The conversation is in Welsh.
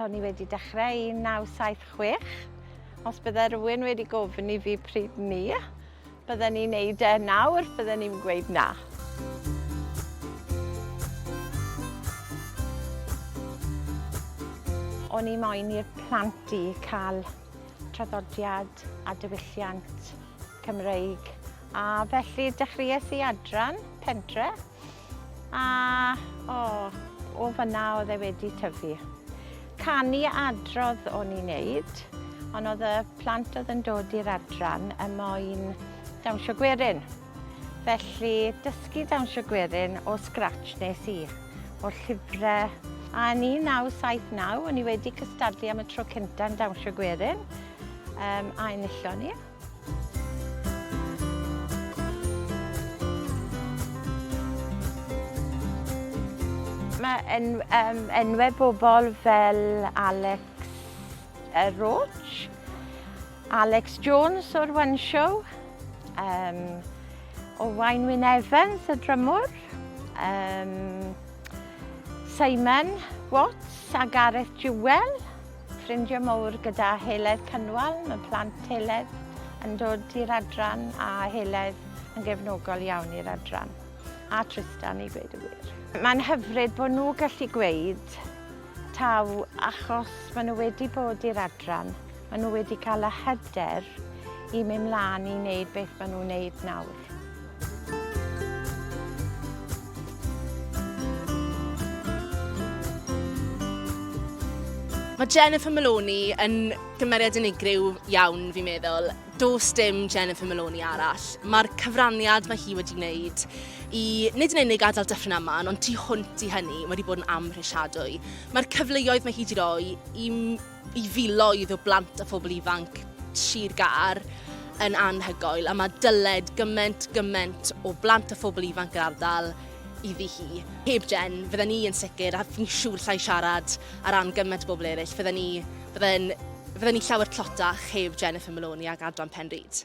O'n i wedi dechrau 1976. Os bydde rhywun wedi gofyn i fi pryd 'ny bydden i'n neud e nawr, bydden i'm yn gweud na. O'n i moyn i'r plant i cael traddodiad a diwylliant Cymreig a felly dechreuais i adran pentre. A, o, o fanna oedd e wedi tyfu. Canu adrodd o'n i'n neud, ond oedd y plant oedd yn dod i'r adran yn moyn dawnsio gwerin. Felly, dysgu dawnsio gwerin o scratch nes i, o'r llyfrau. A yn 1979, o'n i wedi cystadlu am y tro cyntaf yn dawnsio gwerin, um, a enillon ni. Mae en, um, enwau bobl fel Alex uh, Roach, Alex Jones o'r One Show, um, Owain Wyn Evans, y drymwr, um, Simon Watts a Gareth Jewell, Ffrindiau mawr gyda Heledd Cynwal, mae plant Heledd yn dod i'r adran a Heledd yn gefnogol iawn i'r adran, a Trystan i gweud y gwir. Mae'n hyfryd bod nhw gallu gweud taw achos maen nhw wedi bod i'r adran, maen nhw wedi cael y hyder i mynd mlaen i wneud beth maen nhw'n wneud nawr. Mae Jennifer Maloney yn gymeriad unigryw iawn, fi'n meddwl. Does dim Jennifer Maloney arall. Mae'r cyfraniad mae hi wedi wneud i nid yn unig adael dyffryn yma, ond tu hwnt i hynny, mae wedi bod yn amhrisiadwy. Mae'r cyfleoedd mae hi wedi rhoi i i filoedd o blant a phobl ifanc Sir Gâr yn anhygoel a mae dyled gyment, gyment o blant a phobl ifanc yr ardal iddi hi. Heb Jen, fydden ni yn sicr, a fi'n siŵr llai siarad ar ran gyment o bobl eraill, fydden ni, fydden, fydden ni llawer tlotach heb Jennifer Maloney ac Adran Pen Rhyd.